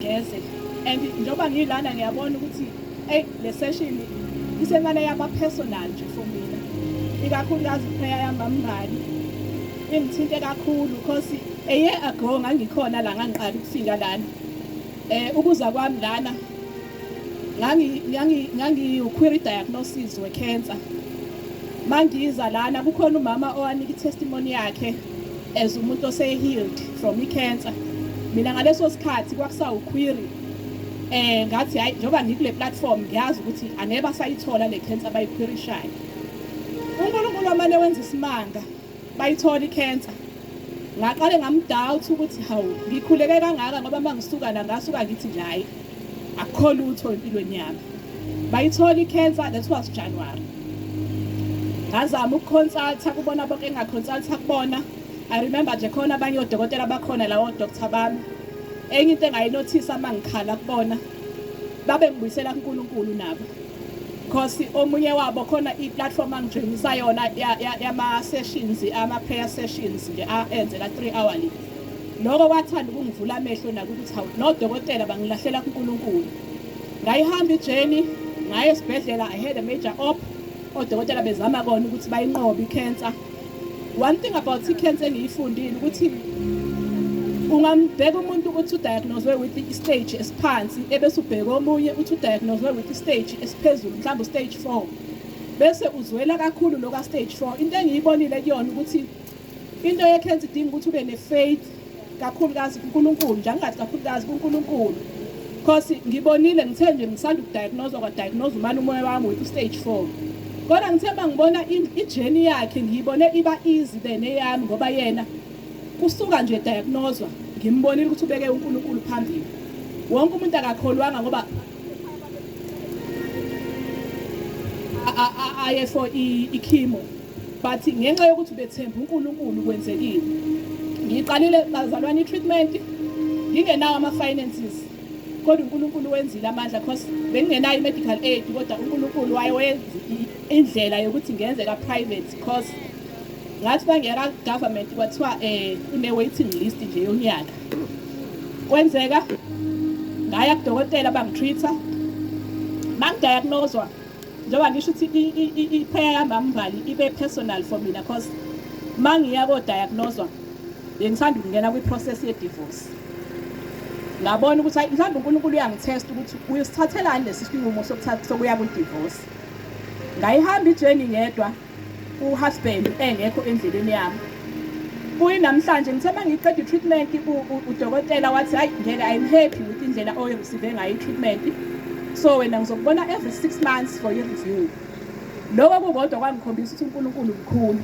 ngeze and njengoba ngilana ngiyabona ukuthi eyi le session isemane yaba personal nje for mina ikakhulukazi iprayer yamamngani ingithinte kakhulu because a year ago ngangikhona la ngangiqala ukufika lana eh ukuza kwami lana ngangi ngangi ngangiwuquery diagnosis wecancer mangiza lana kukhona umama owanika itestimony yakhe as umuntu osehealed from i-cancer mina ngaleso sikhathi kwakusawukhwiri eh ngathi hayi njengoba ngikule platform ngiyazi ukuthi angeke basayithola le cancer abayikhwirishayo uNkulunkulu amane wenza isimanga bayithola i-cancer ngaqale ngamdoubt ukuthi hawu ngikhuleke kangaka ngoba mangisuka la ngasuka ngithi nje hayi akukho lutho empilweni yami bayithola i-cancer that was january ngazama ukukhonsaltha kubona bonke engingakhonsaltha kubona i remember nje khona abanye odokotela bakhona lawo doctor bami enye into engayinothisa uma ngikhala kubona babe ngibuyisela kunkulunkulu nabo because omunye wabo khona i-platform angijoyinisa yona yama-sessions ama-prayer sessions nje enzela three hourly Lokho kwathanda ukungivula amehlo nakukuthi hawu nodokotela bangilahlela kuNkulunkulu. Ngayihamba ijeni ngaye esibhedlela I had a major op odokotela bezama kona ukuthi bayinqobe i-cancer. One thing about i-cancer engiyifundile ukuthi ungambheka umuntu ukuthi udiagnoswe with i-stage esiphansi ebese ubheka omunye uthi udiagnoswe with i-stage esiphezulu mhlawumbe u-stage four bese uzwela kakhulu loka-stage four into engiyibonile kuyona ukuthi into yekhensa idinga ukuthi ube ne-faith kakhulukazi kuNkulunkulu nje angingathi kakhulukazi kuNkulunkulu because ngibonile ngithe nje ngisanda ukudiagnosa kwadiagnosa umane umoya wami with stage four kodwa ngithe uma ngibona ijeni yakhe ngiyibone iba easy than eyami ngoba yena kusuka nje diagnoswa ngimbonile ukuthi ubeke uNkulunkulu phambili wonke umuntu akakholwanga ngoba aye for ichemo but ngenxa yokuthi bethemba uNkulunkulu kwenzekile ngiqalile bazalwane i-treatment ngingenawo ama-finances kodwa uNkulunkulu wenzile amandla because bengingenayo i-medical aid kodwa uNkulunkulu waye wenza indlela yokuthi ngenze ka-private because ngathi bangeka government kwathiwa eh une-waiting list nje yonyaka kwenzeka ngaya kudokotela bangitreat-a bangidiagnoswa njengoba ngisho ukuthi i-prayer yami amvali ibe personal for mina because uma ngiya kodayagnoswa bengithanda ukungena kwi-process ye-divorce ngabona ukuthi hayi mhlawumbe unkulunkulu uyangithesta ukuthi uyosithathelani lesi sinqumo sokuya kwi-divorce ngayihamba ijeni ngedwa uhusband engekho endleleni yami kuyinamhlanje ngithe uma ngiqeda i-treatment udokotela wathi hhayi ngeke i'm happy with indlela oyoreceive ngayo i-treatment so wena ngizokubona every six months for your review loko kukodwa kwangikhombisa ukuthi unkulunkulu mkhulu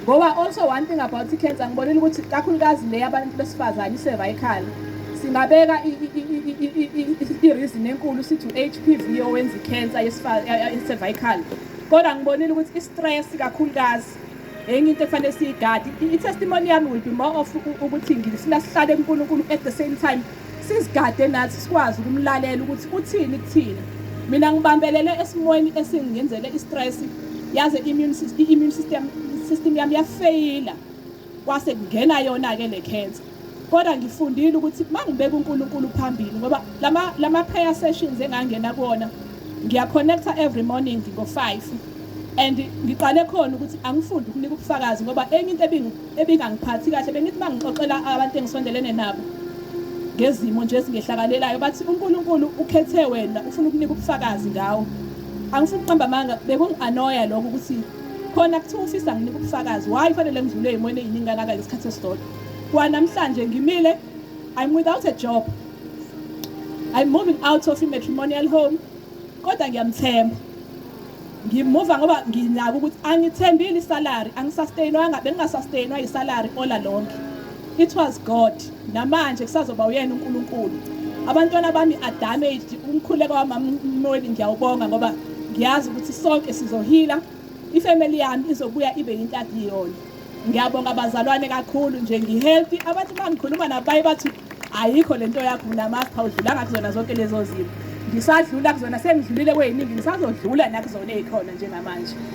ngoba also one thing about i-cancer ngibonile ukuthi kakhulukazi le yabantu besifazane i-cervical singabeka i-reason enkulu sithi u-h p v owenza i-cancer ye-cervical Kodwa ngibonile ukuthi i-stress kakhulukazi enye into efanele siyigade i-testimony yami will be more of ukuthi ngisina sihlale kuNkulunkulu at the same time sizigade nathi sikwazi ukumlalela ukuthi uthini kuthina mina ngibambelele esimweni esingenzele i-stress yaze i-immune system i-immune system system yami yafeyila kwase kungena yona-ke le cancer kodwa ngifundile ukuthi uma ngibeka unkulunkulu phambili ngoba lama-prayer sessions engangena kuwona ngiyaconnecta every morning ngo-five and ngiqale khona ukuthi angifundi ukunika ubufakazi ngoba enye into ebingangiphathi kahle bengithi uma ngixoxela abantu engisondelene nabo ngezimo nje ezingehlakalelayo bathi unkulunkulu ukhethe wena ufuna ukunika ubufakazi ngawo angifuni ukuqamba amanga bekungi-anoya lokho ukuthi khona kuthiwa usisi anginike ubufakazi why fanele ngidlule ey'mweni ey'ningi kangaka ngesikhathi esisodwa kwanamhlanje ngimile i'm without a job i'm moving out of i-matrimonial home kodwa ngiyamthemba ngimuva ngoba nginako ukuthi angithembile isalary angisastainwanga bengingasastainwa yisalary ola lonke It was God. Namanje kusazoba uyena uNkulunkulu. Abantwana bami are damaged. Umkhuleko wamamnweni ngiyawubonga ngoba ngiyazi ukuthi sonke sizohila. Ifamily yami izobuya ibe yintathi yona. Ngiyabonga abazalwane kakhulu nje ngihealthy. Abathi bangikhuluma nabayi bathi ayikho lento yakho mina master udlulanga kuzona zonke lezo zimo ngisadlula kuzona sengidlulile kweyiningi ngisazodlula nakuzona ezikhona njengamanje